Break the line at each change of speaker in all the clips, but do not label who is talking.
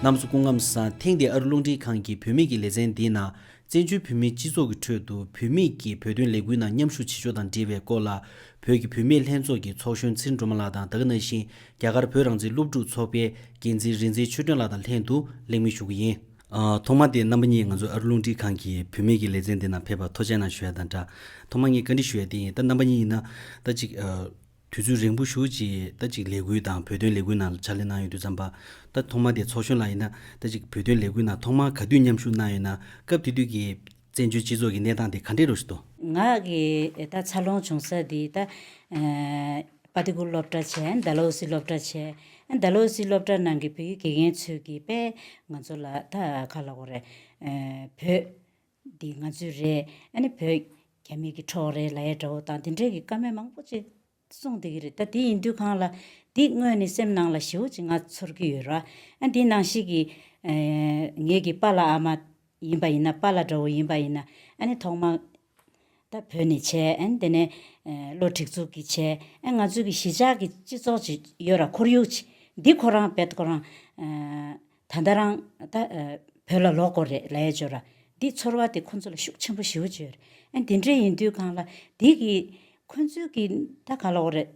གནམ་སོ་སྐུ་ངམ་ས་ཐེངས་འདིའི་ཨ་རི་རླུང་འཕྲིན་ཁང་གི་བུད་མེད་ཀྱི་ལེ་ཚན་འདིའི་ནང་བཙན་བྱོལ་བོད་མིའི་སྤྱི་ཚོགས་ཀྱི་ཁྲོད་དུ་བུད་མེད་ཀྱིས་བོད་དོན་ལས་འགུལ་ནང་མཉམ་ཞུགས་བྱེད་ཕྱོགས་དང་འབྲེལ་བའི་སྐོར་ལ། བོད་ཀྱི་བུད་མེད་ལྷན་ཚོགས་ཀྱི་ཚོགས་གཞོན་ཚེ་འགྲོ་མ་ལགས་དང་དག་ན་ཤིང་རྒྱ་གར་བོད་རང་བཙན་སློབ་ཕྲུག་ཚོགས་པའི་འགན་འཛིན་རིག་འཛིན་ཆོས་སྒྲོན་ལགས་དང་ལྷན་དུ་གླེང་མོལ་ཞུ་གི་ཡིན། ཐོག་མ་དེ་རྣམ་པ་གཉིས་ང་ཚོ་ཨ་རུ་རླུང་འཕྲིན་ཁང་གི་བུད་མེད་ཀྱི་ལེ་ཚན་འདི་ནང་ཕེབས་པར་ཐོ་ཆེན་ནང་ཞུ་ཡ་དང་འདྲ། ཐོག་མ་ངས་བཀའ་འདྲི་ཞུ་ཡ་དེ་ཡིན་ད་རྣམ་པ་གཉིས་ཡིན་ན། ད་ཅིག། དུས་ཚོད་རིང་པོ་ཞུ་ཅིག་ད་ཅིག་ལས་འགུལ་དང་བོད་དོན་ལས་འགུལ་ནང་ཕྱག་ལས་གནང་ཡོད་དུས་ཙམ་པ། ད་ཐོག་མ་དེ་ཚོགས་གཞོན་ལགས་ཡིན་ན། ད་ཅིག་བོད་དོན་ལས་འགུལ་ནང་ཐོག་མ་ག་དུས་མཉམ་ཞུགས་གནང་ཡོད་ན་སྐབས་དེ་དུས་ཀྱི། བཙན་བྱོལ་སྤྱི་ཚོགས་ཀྱི་གནས་སྟངས་དེ་ག་འདྲའི་རུ་ཞིག་ཏུ། ང་གིས་
ད་འཚར་ལོངས་བྱུང་ས་འདི་ད། པ་ཏི་གུར་སློབ་གྲྭ་བྱས་འདའ་ལོ་སི་སློབ་གྲྭ་བྱས། འདའ་ལོ་སི་སློབ་གྲྭ་ནང་གི་བོད་ཡིག་དགེ་རྒན་ཚོས་ཀྱི་དཔེ་ང་ཚོ་ལ་ད་ཁ་ལ་གོ་རེད། བོད། འདི་ང་ཚོའི་རེད། ཨ་ནི་བོད། རྒྱ་མིག་གི་འཕྲོག་རེད་ལ་ཡའི་དགྲ་བོ་དང་དེ་འདྲའི་གི་དཀའ་མེད་མང་པོ་ཅི། གསུངས་འདུག་གི་རེད་ད་དེ་ཡིན་དུས་གང་ལ་འདི་དངོས་ནས་སེམས་ནང་ལ་ཞེ་བོ་ཅིག་ང་ཚོར་གི་ཡོད་ར་ཨ་འདི་ནང་ཞིག་གི་ངེད་ཀྱི་པ་ལ་ཨ་མ་ཡིན་པ་ཡིན་ན་པ་ལ་དགྲ་བོ་ཡིན་པ་ཡིན་ན་ཨ་ནི་ཐོག་མ་ད་བོད་ནས་བྱས་ཨ་ནི་དེ་ནས་བློ་འཁྲིག་ཚུགས་ཀྱི་བྱས་ཨ་ང་ཚོའི་གི་གཞིས་ཆགས་ཀྱི་སྤྱི་ཚོགས་ཅིག་ཡོད་ར་ཁོར་ཡུག་ཅིག་འདི་ཁོ་རང་བེད་ཁོ་རང་ད་ལྟ་རང། ད། བོད་ལ་ལོག་གོ་རེད་ལས་བྱོ་ར། འདི་ཚོར་བ་དེ་ཁོ་ཚོ་ལ་ཤུགས་ཆེན་པོ་ཞིའོ་བྱོས་རེད། ཨ་འདི་འདྲས་ཡིན་དུས་གང་ལ། འདི་གི། ཁོ་ཚོའི་གི། ད་ག་ལོག་རེད།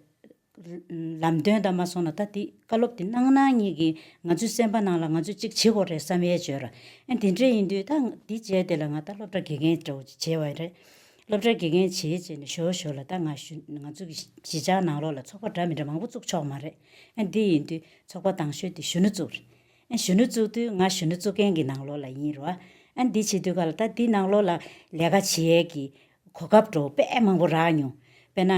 ལམ་སྟོན་ད་མ་སོང་ན་ད་འདི་བཀའ་སློབ་དེ་གནང་གནང་གཉིས་གི་ང་ཚོའི་སེམས་པ་ནང་ལ་ང་ཚོས་ཅིག་བྱེད་གོ་རེད་བསམ་ཡས་བྱོས་ར། ཨ་འདི་འདྲས་ཡིན་དུས་ད་འདི་བྱས་དེ་ལ་ང་ད་སློབ་གྲ་དགེ་རྒན་འདྲ་བོ་ཅིག་བྱས་བ་རེད། སློབ་གྲ་དགེ་རྒན་བྱས་བྱས་ནས་ཞོ་ཞོ་ལ་ད་ང་ཞུ་ང་ཚོ་གི་གཞིས་ཆགས་ནང་ལོག་ལ་ཚོགས་པ་འདྲ་མི་འདྲ་མང་པོ་བཙུགས་ཆོག་མ་རེད། ཨ་འདི་ཡིན་དུས། ཚོགས་པ་དང་ཤོས་དེ་གཞོན་ནུ་བཙུགས། གཞོན་ནུ་བཙུགས་དུས་ང་གཞོན་ནུ་བཙུགས་མཁན་གྱི་ནང་ལོགས་ལ་ཡིན་རུང། འདི་བྱེད་དུས་ག་ལ་ད་འདི་ནང་ལོགས་ལ་ལས་ཀ་བྱེད་ཡས་ཀྱི། གོ་སྐབས་འགྲོ་དཔེ་མང་པོ་རག་མྱོང། དཔེ་ན།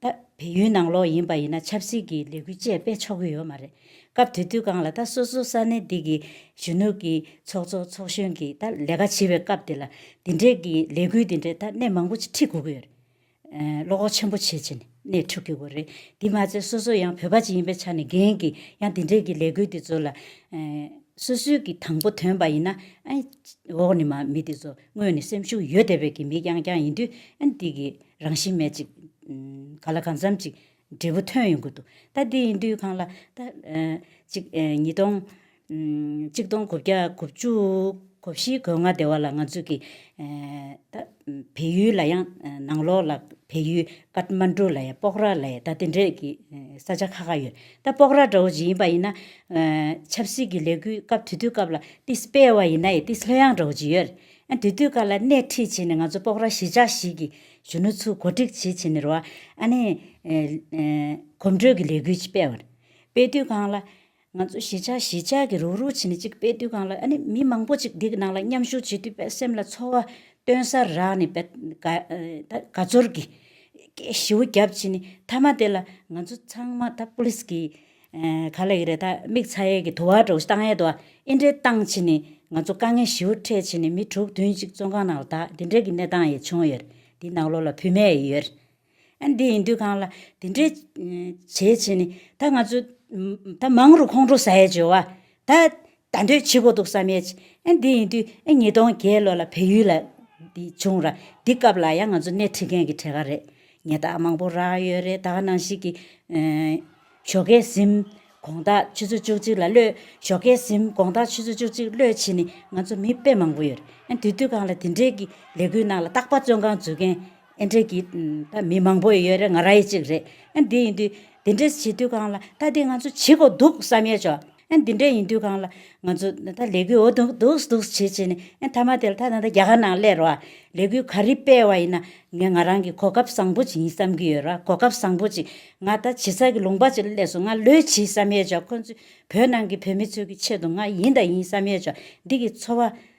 ད་བལ་ཡུལ་ནང་ལོགས་ཡིན་པ་ཡིན་ན་ཆབ་སྲིད་ཀྱི་ལས་འགུལ་བཅས་སྤེལ་ཆོག་གི་ཡོད་མ་རེད། སྐབས་དེ་དུས་གང་ལ་ད་སོ་སོ་ས་གནས་འདི་གི་གཞོན་ནུ་གྱི་ཚོགས་གཙོ་ཚོགས་གཞོན་གྱིས་ད་ལས་ཀ་བྱེད་པའི་སྐབས་དེ་ལ། འདི་འདྲས་ཀྱི་ལས་འགུལ་འདི་འདྲས་ད་གནས་མང་པོ་ཅིག་ཁྲིད་དགོས་ཀྱི་ཡོད་རེད། བློ་ཁོག་ཆེན་པོ་བྱེད་ཅེས་ནས་ནས་འཁྲུག་གི་འོ་རེད་དེ་མ་ཚད་སོ་སོ་ཡང་བོད་པ་ཅིག་ཡིན་པའི་ཆ་ནས་རྒན་གྱིས་ཡང་དེ་འདྲས་ཀྱི་ལས་འགུལ་དེ་ཚོ་ལ། སོ་སོས་ཀྱིས་དང་པོ་དོན་པ་ཡིན་ན་ཨ། འོག་ནས་མ་མི་དེ་ཚོ་དངོས་ནས་སེམས་ཤུགས་ཡོད་བསྡད་པའི་གི་མི་རྐྱང་རྐྱང་ཡིན་དུས་ཨ་འདི་གི་རང་བཞིན་མེད་ཅིག། ག་ལ་གང་འཚམ་ཅིག་འབྲས་བུ་ཐོན་ཡོང་གི་འདུག་ད་འདི་ཡིན་དུས་གང་ལ། གཅིག། ཉིས་སྟོང། གཅིག་སྟོང་དགུ་བརྒྱ་དགུ་བཅུ། གོ་བཞི་གོ་ལྔ་སྡེ་བ་ལ་ང་ཚོས་ཀྱི། ད། བལ་ཡུལ་ལ་ཡང་ནང་ལོགས་ལ་བལ་ཡུལ་ཀརྟ་མ་འགྲུ་ལ་ཡང་སྤོག་ར་ལ་ཡང་ད་འདི་འདྲས་ཀྱི་ས་ཆ་ཁག་ཁག་ཡོད། ད་སྤོག་ར་འདྲ་བོ་ཇི་ཡིན་པ་ཡིན་ན། ཆབ་སྲིད་ཀྱི་ལས་འགུལ་སྐབས་དུས་དུས་སྐབས་ལ་ཏི་སྤེ་བ་ཡིན་ན་ཡི་ཏི་ལྷོད་ཡངས་འདྲ་བོ་ཇི་ཡོད། ཨ་དུས་དུས་སྐབས་ལ་སྣེ་ཁྲིད་བྱས་ནས་ང་ཚོ་སྤོག་ར་གཞིས་ཆགས་ཤིག་གི། གཞོན་ནུ་ཚོས་གོ་སྒྲིག་བྱེད་བྱེད་མིར་བ་ཨ་ནེ། གོམ་བགྲོད་ཀྱི་ལས་འགུལ་ཅིག་སྤེལ། བར་དཔེ་དུས་ཁང་ལ། ང་ཚོ་གཞིས་ཆགས་གཞིས་ཆགས་ཀྱི་རུག་རུག་བྱེད་མི་གཅིག་དཔེ་དུས་ཁང་ལ་ཨ་ནེ་མི་མང་པོ་ཅིག་འདི་གི་ནང་ལ་མཉམ་ཞུགས་བྱེད་དུས་དཔེ་སེམས་ལ་ཚོར་བ་སྟོན་སར་རག་ནས་དཔེ། དགའ་ཚོར་གྱིས། སྐད་ཞིའུ་རྒྱབ་བྱེད་ནས་མཐའ་མ་དེ་ལ་ང་ཚོ་ཚང་མ་ད་པུ་ལིས་ཀྱིས། ག་ལ་ཡི་རེད་ད་མིག་ཚ་ཡས་ཀྱི་དུ་བ་འགྲོ་སྟངས་ཡས་དུ་བ་ཨེ་འདྲའི་སྟངས་བྱེད་ནས་ང་ཚོ་དཀའ་ངལ་ཞིའུ་འཕྲད་བྱེད་ནས་མི་དྲུག་བདུན་གཅིག་བཙོན་ཁང་ནང་ལ་དྭ་འདི་འདྲའི་གི་གནས་སྟངས་ཡས་བྱུང་ཡོད་འདི་ནག་ལོ་ལ་བུད་མེད་ཡས་ཡོད་ཨ་འདི་ཡིན་དུས་ཁང་ལ་འདི་འདྲའི་བྱེད་བྱེད་ནས་ད་ང་ཚོ་ད་མང་རུ་ཁོང་འགྲོ་ས་ཡས་བྱོས་བ་ད་ད་འདོད་ཆེ་པོ་འདུག་བསམ་ཡས་བྱེད་ཨ་འདི་ཡིན་དུས་ཨ་ཉིས་སྟོང་བརྒྱད་ལོ་ལ་བལ་ཡུལ་ལ་འདི་བྱུང་ར་འདི་སྐབས་ལ་ཡ་ང་ཚོ་སྣེ་ཁྲིད་མཁན་གྱི་གྲས་ག་རེད་ངས་ད་མང་པོ་རག་ཡོད་རེད་ད་ནང་ཞིག་གི། ཞོགས་ཀའི་གཟིམ། དགོངས་དག་ཆུ་ཚོད་བཅུ་གཅིག་ལ་གློད། ཞོགས་ཀའི་གཟིམ། དགོངས་དག་ཆུ་ཚོད་བཅུ་གཅིག་གློད་བྱེད་ནི་ང་ཚོ་མི་དཔེ་མང་པོ་ཡོད། ཨན་དུས་དུས་གང་ལ་དེ་འབྲེལ་གྱི་ལས་འགུལ་ནང་ལ་རྟག་པར་བཙོན་ཁང་འཛུལ་མཁན་ཨན་འབྲེལ་གྱི་ད་མི་མང་པོ་ཡོད་རེད་ང་རང་ཡི་གཅིག་རེད། ཨན་དེ་ཡིན་དུས་དེ་འདྲས་བྱེད་དུས་གང་ལ་ད་དེ་ང་ཚོ་བྱེད་དགོས་འདུག་བསམ་ཡས་ཆོག། ཨེ་འདི་འདྲ་ཡིན་དུས་གང་ལ་ང་ཚོ་ད་ལྟ་ལས་འགུལ་འོ་འདུག་འདུག་འདུག་བྱེད་བྱེད་ནས་ཨེ་མཐའ་མ་དེ་ལ་ད་ལྟ་རྒྱ་གར་ནང་སླེ་རོགས་ཨ། ལས་འགུལ་ག་རི་སྤེལ་བ་ཡིན་ན་ངས་ང་རང་གི་གོ་སྐབས་བཟང་པོ་ཅིག་ཡིན་བསམ་གྱི་ཡོད་རོགས་གོ་སྐབས་བཟང་པོ་ཅིག་ང་ད་བྱེད་ས་གི་ལུང་པ་ཅིག་ལ་སླེ་སོང་ང་ལོས་བྱེད་བསམ་ཡས་ཆོག་ཁོ་ཚོས་བོད་ནང་གི་བོད་མི་ཚོའི་གི་ཆེད་དུ་ང་ཡིན་ད་ཡིན་བསམ་ཡས་ཆོག་འདི་གི་འཚོ་བ་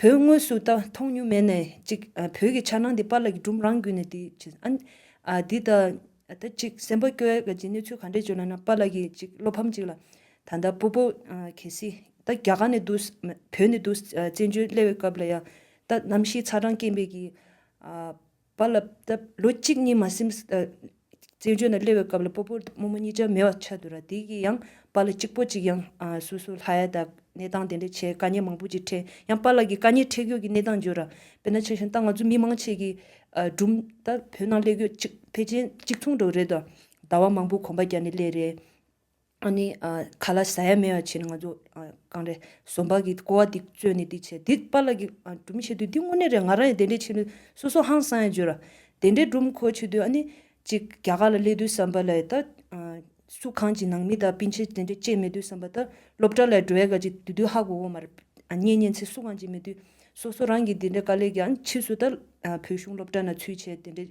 བོད་དངོས་སུ་ད་མཐོང་མྱོང་མེད་ནས་ཅིག་བོད་ཀྱི་འཆར་སྣང་འདི་པཱ་ལགས་ཀྱི་སྒྲུང་རང་བརྒྱུད་ནས་དེ་བྱེད་ཨ་འདི་ད་ད་ཅིག་སེམས་པ་སྐྱོ་ཡ་ཅིག་གནས་ཚུལ་ག་འདྲས་བྱུང་ན་ན་པཱ་ལགས་ཀྱི་ཅིག་བློ་ཕམ་ཅིག་ལ་ད་ད་པོ་པོ་གལ་སྲིད་ད་རྒྱ་གར་ནས་འདུག་བོད་ནས་འདུག་བཙན་བྱོལ་སླེ་བའི་སྐབས་ལ་ཡང་ད་གནམ་གཤིས་ཚ་གྲང་སྐྱེན་པས་ཀྱི། བ་ལ་བཏབ། ལོ་གཅིག་གཉིས་མ་སིམ། བཙན་བྱོལ་ན་སླེབས་པའི་སྐབས་ལ་སྤོ་པོ་རྨོ་མོ་གཉིས་ཅར་མེད་པ་ཆགས་འདུག་ར་དེ་གི་ཡང་པ་ལ་གཅིག་པོ་ཅིག་ཡང་སོ་སོ་ལྷ་ཡ་དང་གནས་སྟངས་དེ་འདྲ་བྱས་དཀའ་ཉེ་མང་པོ་ཅིག་འཕྲད་ཡང་པ་ལ་གི་དཀའ་ཉེ་འཕྲད་གྱོ་གི་གནས་སྟངས་འགྱོ་ར་དཔེ་ན་ཆ་བཞིན་ད་ང་ཚོ་མི་མང་ཆེ་གི་སྒྲུམ་ད་བོད་ནང་སླེབས་གྱོ་གཅིག་ཕལ་ཆེན་གཅིག་མཚུངས་འགྲོ་རེད་དོ་ཟླ་བ་མང་པོ་གོམ་པ་རྒྱ་ནི་སླེབས་རེད། ཨཱ་ནི། ག་ལ་ཟ་ཡ་མེད་བ་བྱས་ནས་ང་ཚོ་གང་རེད་ཟོམ་པ་གིས་ཀོ་བ་འདི་བཙོས་ནས་འདི་བྱས་འདི་པཱ་ལགས་ཀྱིས་སྒྲུབ་མི་བྱེད་དུས་འདི་དངོས་གནས་རེད་ང་རང་ཡང་དེ་འདྲས་བྱེད་ནུས་སོ་སོ་ཧང་སང་ཡང་བརྗོད་ར། དེ་འདྲས་སྒྲུབ་མཁོ་བྱེད་དུས་ཨཱ་ནི། ཅིག་རྒྱ་གར་ལ་སླེབས་དུས་བསམ་པ་ལས་ད། སུ་གང་ཅིག་ནང་མི་དང་སྤུན་མཆེད་དེ་འདྲས་བཅས་མེད་དུས་བསམ་པ་ད་སློབ་གྲྭ་ལས་འགྲོ་བས་ག་ཅིག་དུས་དུས་ཧ་གོ་གོ་མ་རེད། གཉེན་ཉེ་ཚེ་སུ་གང་ཅིག་མེད་དུས་སོ་སོ་རང་གིས་དེ་འདྲས་དཀའ་ལས་ཀྱིས་ཨཱ་ནི་ཕྱིས་སུ་ད། བོད་གཞུང་སློབ་གྲྭ་ན་ཚུལ་བྱས་དེ་འདྲས།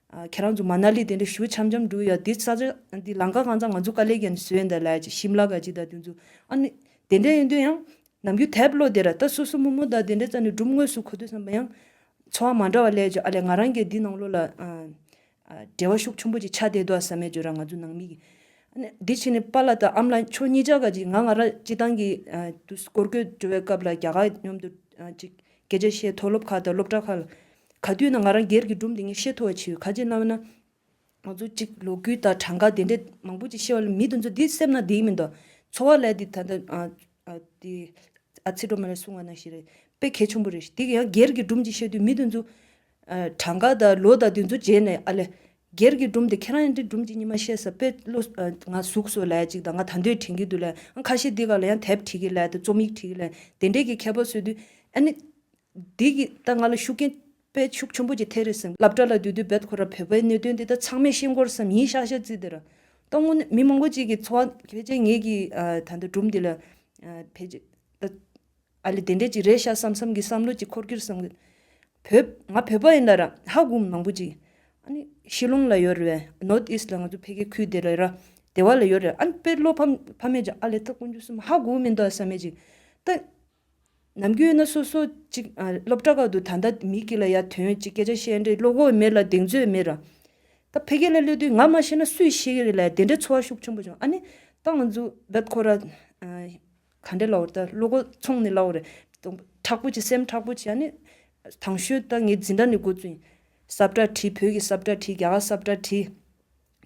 ཁྱེད་རང་ཚོ་མ་ན་ལི་དེ་འདྲ་ཞུ་འཆམ་འཆམ་འགྲོ་ཡ་དེ་ས་ཆ་དེ་ལང་ཀ་གང་ཚ་ང་ཚོ་ཀ་ལེ་ག་ནས་བཟོས་འདི་ལ་ཅིག་ཤིམ་ལ་ག་ཅིག་ད་དེ་ཚོ་ཨ་ནི་དེ་འདྲ་ཡིན་དུས་ཡང་ནམ་རྒྱུན་དེབ་ཀློག་དེ་ར་ད་སོ་སོ་མོ་མོ་ད་དེ་འདྲ་རྩ་ནས་སྒྲུབ་དངོས་སུ་གོ་དུས་བསམ་པ་ཡང། འཚོ་བ་མ་འདྲ་བ་ལས་ཀྱི་ཨ་ལས་ང་རང་གི་འདི་ནང་ལོ་ལ་འབྲེལ་བ་ཤུགས་ཆུང་པོ་ཅིག་ཆགས་བསྡད་འདུག་ཨ་ས་མེད་ཅོ་ར་ང་ཚོ་ནང་མི་གི་ཨ་ནི་དེ་ཕྱི་ནས་པ་ལ་ད་ཨམ་ལ་ཁྱོ་གཉིས་ཅག་ག་ཅིག་ང་ང་ར་སྤྱི་བཏང་གི་དུས་སྐོར་སྐོས་བྲོ་བའི་སྐབས་ལ་རྒྱ་གར་མཉོམ་དུ་ཅིག་གལ་ཆེ་ཤེས་མཐོ་སློབ་ཁག་དང་སློབ་གྲྭ་ཁག་ལ། ག་དུས་ན་ང་རང་སྒེར་གྱི་སྒྲུང་དེ་ཉིད་བཤད་ཐུ་བ་ཆེ་བས་ཁ་ལྕེ་རྣ་བས་ན། ང་ཚོ་གཅིག་ལོ་རྒུད་དང་གྲངས་ཀ་དེ་འདྲས་མང་པོ་ཅིག་ཤེས་བ་ལ་མི་དེ་ཚོ་དེ་སེམས་ན་དེའི་མི་འདོ། འཚོ་བ་ལས་དེ་ད་ལྟ། དེ། ཨ་ཚེ་སྒྲོལ་མ་ལས་གསུང་བ་ན་ཞེས་རེད། དཔེ་གལ་ཆུང་པོ་རེད། དེ་ཡང་སྒེར་གྱི་སྒྲུང་ཅིག་བཤད་དུས་མི་དེ་ཚོ། གྲངས་ཀ་དང་ལོ་དང་དེ་ཚོ་བརྗེས་ནས་ཨ་ལས། སྒེར་གྱི་སྒྲུང་དེ་ཁྱེད་རང་ཡང་འདིར་སྒྲུང་གཅིག་གཉིས་མ་བཤད་ས་དཔེ་བློ། ང་གཟུགས་སོགས་ལས་ཅིག་དང་ང་ད་འདོད་དྲན་གྱི་འདུག་ལས་ཨང་ཁ་ཤས་འདི་ག་ལ་ཡང་དེབ་བྲིས་ཀྱི་ལས་དང་རྩོམ་ཡིག་བྲིས་ཀྱི་ལས་དེ་འདྲས་ཀྱི་མཁས་པ་བཟོས་དུས། ཨ་ནི། འདི་གི་ད་ང་ལ་ཤུགས་རྐྱེན། པའི་ཤུགས་ཆེན་པོ་ཅིག་ཐེབས་རེད་བསམ་གི་སླབ་གྲྭ་ལ་སྡོད་དུས་བལ་ཁོ་ར་བོད་པའི་གནད་དོན་འདི་དག་ཚང་མས་ཤེས་མགོར་བསམ་ཡིན་ཤག་ཤག་བརྩིས་ཏེ་ར། ལྟོ་སྔོན་ནས་མི་མང་པོ་ཅིག་གི་འཚོ་བ་ཕལ་ཆེར་ངེད་ཀྱི་ད་ལྟ་སྒྲུང་འདི་ལ། ཕལ་ཆེར། ཨ་ལེ་དེ་འདྲས་ཅིག་རེད་ཤག་བསམ་བསམ་གི་བསམ་བློ་གཅིག་འཁོར་རྒྱུར་བསམ། བོད། ང་བོད་པ་ཡིན་ལ་ར་ཧ་གོ་མང་པོ་ཅིག། ཨ་ནི། ཤི་ལོང་ལ་ཡོད་རེད་བས། North East ལ་ང་ཚོ་ཕལ་སྐད་ཁུལ་དེ་ལ་ར། དེ་བ་ལ་ཡོད་རེད། ཨ་ནི་དཔེར་བློ་ཕམ་ཕ་མེད་ཅིག་ཨ་ལེ་ད་དཀོན་རྒྱུ་བསམ་ཧ་གོ་གི་མིན་འདུག་བསམ་མེད་ཅིག། ད། ནམ་རྒྱུན་ཡོད་ན་སོ་སོ་ཅིག། སློབ་གྲྭ་ཁག་ཏུ་ད་ལྟ་མི་གཅིག་ལ་ཡ་དོན་གཅིག་སྐད་ཆ་བཤད་འདྲའི་བློ་ཁོག་མེད་ལ་གདེང་ཚོད་མེད་ར། ད་ཕལ་སྐད་ལ་སླེབས་དུས་ང་མ་ཤེས་ན་སུས་ཤེས་ཀྱི་རེད་ལ་དེ་འདྲའི་འཚོ་བ་ཤུགས་ཆེན་པོ་བྱུང་ཨ་ནི། ད་ང་ཚོ། བདག་ཁོ་ར། ག་འདྲའི་ལོག་ལྟ། བློ་སྒོ་མཚུངས་ནི་བླ་འོག་རེད། དྲག་པོ་བྱེད་སེམས་དྲག་པོ་བྱེད། ཡང་ནི། དང་ཤུལ་ལྟ་ངེས་འཛིན་དགྲ་ནི་དགོས་ཚུལ་ཡིན། སབ་དགྲ་བྲིས་བོད་ཀྱི་སབ་དགྲ་བྲིས་རྒྱ་གར་སབ་དགྲ་བྲིས།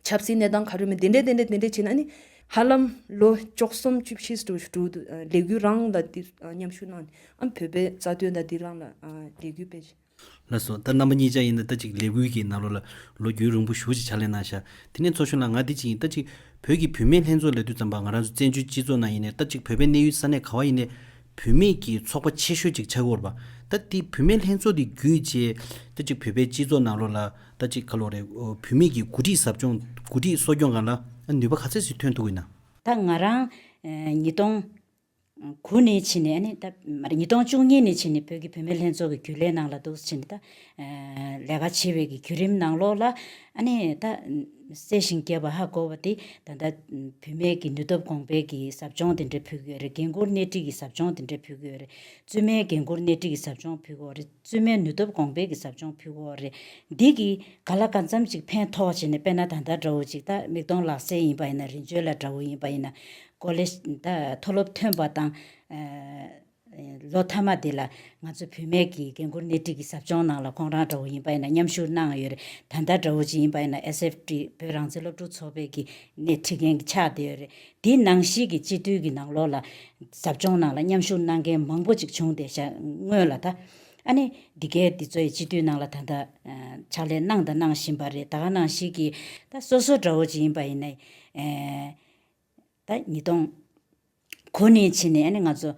ཆབ་སྲིད་གནས་སྟངས་ག་རེ་མི་དེ་འདྲས་དེ་འདྲས་དེ་འདྲས་བྱས་ན་ནི། ཧ་ལམ། ལོ་བཅོ་གསུམ་བཅུ་བཞི་ཟློ་བཞུགས་དུ་ལས་འགུལ་རང་ལ་འདིར་མཉམ་ཞུགས་གནང། ཨ་བོད་པའི་རྩ་དོན་དང་འདི་རང་ལ་ལས་འགུལ་སྤེལ། ལ་སོགས་ལྟར་རྣམ་པ་
གཉིས་ཆ་ཡིན་ན་ལྟ་ཅིག་ལས་ཀུན་གྱི་ནཱ་རོ་ལ་ལོ་རྒྱུས་རིང་པོ་བཞུགས་ཅིག་ཕྱག་ལེན་གནང་ཞག་དེ་ནས་ཚོགས་གཞོན་ལ་ང་འདི་ཅིག་ཡིན་ལྟ་ཅིག་བོད་ཀྱི་བུད་མེད་ལྷན་ཚོགས་ལས་དུས་ཙམ་པ་ང་རང་ཚོ་བཙན་བྱོལ་སྤྱི་ཚོགས་ནང་ཡིན་ནས་ལྟ་ཅིག་བོད་པའི་གནས་ཡུལ་ས་གནས་ག་བ་ཡིན་ནས་བུད་མེད་ཀྱི་ཚོགས་པ་ཆེ་ཤོས་ཅིག་ཆགས་ཀྱི་འོར་བ་ལྟ་དེ་བུད་མེད་ལྷན་ཚོགས་དེ་བརྒྱུད་ཅེས་ལྟ་ཅིག་བོད་པའི་སྤྱི་ཚོགས་ནང་རོ་ལ་ལྟ་ཅིག་ག་ལོ་རེ་བུད་མེད་ཀྱི་འགོ་ཁྲིད་ཟབ་སྦྱོང་འགོ་ཁྲིད་གསོ་སྐྱོང་གང་ལ་ནུས་པ་ག་ཚད་ཟིག་ཐོན་ཐུབ་ཀྱི་ན། ད་ང་རང།
ཉིས་སྟོང། གུ་ནས་ཕྱིན་ནས་ནི་ད། ཉིས་སྟོང་བཅུ་གཉིས་ནས་ཕྱིན་ནས་བོད་ཀྱི་བུད་མེད་ལྷན་ཚོགས་ཀྱི་རྒྱུན་ལས་ནང་ལ་འདུག་ཕྱིན་ནས་ད། ལས་ཀ་བྱེད་པའི་གི་བརྒྱུད་རིམ་ནང་ལོགས་ལ། ནི་ད། བསྲེ་ཞིང་བསྐྱེད་པ་ཧ་གོ་བ་དེ། ད་ལྟ། བུད་མེད་ཀྱི་ནུས་སྟོབས་གོང་འཕེལ་གྱི་ཟབ་སྦྱོང་དེ་འདྲའི་ཕུལ་གྱི་ཡོད་རེད་འགན་འཁུར་སྣེ་ཁྲིད་ཀྱི་ཟབ་སྦྱོང་དེ་འདྲའི་ཕུལ་གྱི་ཡོད་རེད། བཙུན་མའི་འགན་འཁུར་སྣེ་ཁྲིད་ཀྱི་ཟབ་སྦྱོང་ཕུལ་གི་ཡོད་རེད། བཙུན་མའི་ནུས་སྟོབས་གོང་འཕེལ་གྱི་ཟབ་སྦྱོང་ཕུལ་བོ་རེད། འདི་གིས་ག་ལ་ག་འཚམ་ཅིག་ཕན་ཐོག་བྱས་ནས་དཔེར་ན་ད་ལྟ་དགྲ་བོ་ཅིག་དང་མིག་མཐོང་ལག་ཟིན་ཡིན་པ་ཡིན་ན་རིན་བྱོན་ལ་དགྲ་བོ་ཡིན་པ་ཡིན་ན། ཀོ་ལེ། མཐོ་སློབ་ཐོན་པ་དང། ལོ་མཐའ་མ་དེ་ལ་ང་ཚོ་བུད་མེད་ཀྱི་རྒན་བཀུར་སྣེ་ཁྲིད་ཀྱི་ཟབ་སྦྱོང་གནང་ལ་ཁོང་རང་དགྲ་བོ་ཡིན་པ་ཡིན་ན་མཉམ་ཞུགས་གནང་ཡོད་རེད། ད་ལྟ་དགྲ་བོ་ཅིག་ཡིན་པ་ཡིན་ན SFT བོད་རང་བཙན་སློབ་ཕྲུག་ཚོགས་པའི་གི་སྣེ་ཁྲིད་མཁན་གྱི་ཆགས་བསྡད་ཡོད་རེད། དེའི་ནང་གཞིས་ཀྱི་སྤྱི་འཐུས་ཀྱི་ནང་ལོགས་ལ། ཟབ་སྦྱོང་ནང་ལ་མཉམ་ཞུགས་གནང་མཁན་མང་པོ་ཅིག་བྱུང་སྟེ་བྱ་དངོས་ལ་ད། ཨ་ནི་འདི་གའི་འདི་ཚོ་ཡི་སྤྱི་འཐུས་ནང་ལ་ད་ལྟ། ཕྱག་ལས་གནང་དང་གནང་བཞིན་པ་རེད་ད་ག་ནང་གཞིས་ཀྱི། ད་སོ་སོ་འདྲ་བོ་ཅིག་ཡིན་པ་ཡིན་ན། ད་ཉིས་སྟོང། གོ་ནས་ཕྱིན་ནས་ཨ་ནི་ང་ཚོ།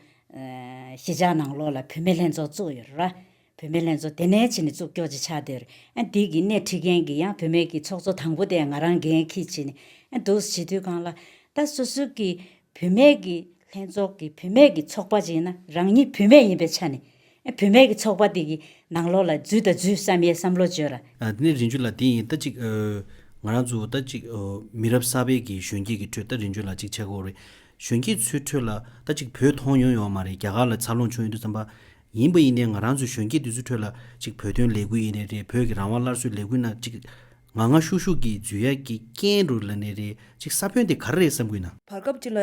གཞིས་ཆགས་ནང་ལོགས་ལ་བུད་མེད་ལྷན་ཚོགས་བཙུགས་ཡོད་རེད་ར། བུད་མེད་ལྷན་ཚོགས་དེ་ནས་ཕྱི་ནས་བཙུགས་སྐྱོག་ཅིག་ཆགས་འདིར་ཨ་འདི་གི་སྣེ་ཁྲིད་མཁན་གྱི་ཡང་བུད་མེད་ཀྱི་ཚོགས་གཙོ་དང་པོ་དེ་ང་རང་འགན་ཁྱི་བྱིན་ཨ་འདུག་བྱིས་དུས་གང་ལ། ད་སུ་སུ་ཀི་བུད་མེད་ཀྱི་ལྷན་ཚོགས་ཀྱི་བུད་མེད་ཀྱི་ཚོགས་པ་ཅིག་ན་རང་ཉིད་བུད་མེད་ཡིན་པའི་ཆ་ནས་ཨ་བུད་མེད་ཀྱི་ཚོགས་པ་དེ་གི་ནང་ལོགས་ལ་འཛུལ་དང་འཛུལ་བསམ་ཡས་བསམ་བློ་བཅོལ་ར། དེ་ནས་རིན་ཆོན་ལ་དེ་
ཡིན་ད་ཅིག་ང་རང་ཚོ་ད་ཅིག་མི་རབས་གསར་པའི་གི་གཞོན་སྐྱེས་ཀྱི་ཁྲོད་ད་རིན་ཆོན་ལ་ཅིག་ཆ་གོ་རེད། གཞོན་སྐྱེས་ཚོའི་ཁྲོད་ལ་ད་ཅིག་བོད་མཐོང་ཡོང་ཡོང་བ་མ་རེད་རྒྱ་གར་ལ་འཚར་ལོངས་བྱུང་ཡོད་དུས་བསམ་པ་ཡིན་པ་ཡིན་ནའི་ང་རང་ཚོའི་གཞོན་སྐྱེས་དེ་ཚོའི་ཁྲོད་ལ་གཅིག་བོད་དོན་ལས་འགུལ་ཡིན་ནའི་རེད་བོད་ཀྱི་རང་དབང་སླར་གསོའི་ལས་འགུལ་ནང་གཅིག། ང་ང་ཤུག་ཤུག་གིས་འཛུལ་ཡག་གི་རྐྱེན་རུ་ལ་ནའི་རེད་གཅིག་ས་བོན་དེ་ག་རེ་རེད་བསམ་དགོས་ན། བར་སྐབས་གཅིག་ལ་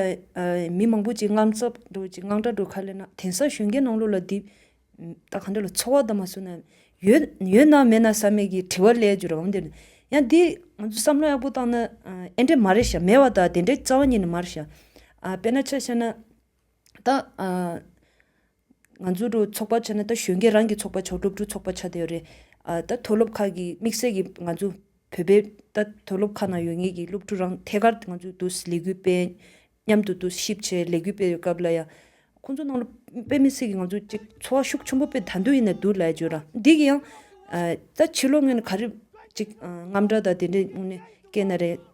མི་མང་པོ་གཅིག་དངངས་འཚབ་འགྲོ་གཅིག་དངངས་སྐྲག་འགྲོ་ག་ལེ་ན་དེང་སང་གཞོན་སྐྱེས་ནང་ལོགས་ལ་འདི་ལྟ་ག་འདྲ་ལ་འཚོ་བ་དང་མ་བསུ་ན་ཡོད་ཡོད་ན་མེད་ན་བསམ་མེད་ཀྱི་དྲི་བ་ལས་རྒྱུ་རང་མ་འདེར། ཡང་འདི་ང་ཚོས་བསམ་བློ་ཡག་པོ་བཏང་ན་ཨེ་འདྲས་མ་རེད་ཤག་མེད་བ་དང་དེ་འདྲའི་རྩ་བ་ཉིད་ནས་མ་རེད་ཤག། དཔེར་ན་ཆ་བཤད་ན། ད། ང་ཚོ་ཚོགས་པ་བྱས་ན་ད་གཞོན་སྐྱེས་རང་གི་ཚོགས་པ་མཆོག་སྒྲུབ་ཚོགས་པ་བྱ་འདོད་རེད། ད་མཐོ་སློབ་ཁག་གི་དམིགས་བསལ་གྱི་ང་ཚོ་བོད་པའི་ད་མཐོ་སློབ་ཁག་ན་ཡོད་ངེས་ཀྱི་སློབ་ཕྲུག་རང་ཐད་ཀར་ང་ཚོས་དུ་ལས་འགུལ་སྤེལ། མཉམ་དུ་དུ་ཞིབ་བྱས་ལས་འགུལ་སྤེལ་བའི་སྐབས་ལ་ཡང། ཁོང་ཚོ་ནང་ལ་དཔེ་མི་སྲིད་ཀྱི་ང་ཚོ་གཅིག་འཚོ་བ་ཤུགས་ཆེན་པོ་སྤེལ་ད་འདོད་ཡིན་ན་འདུག་ལ་བརྗོད་ར་འདི་གི་ཡང། ད་ཕྱི་ལོ་ངན་ག་རེ་གཅིག་རྔམ་དྲག་དང་དེ་འདྲས་སྐྱེས་ན་རེད།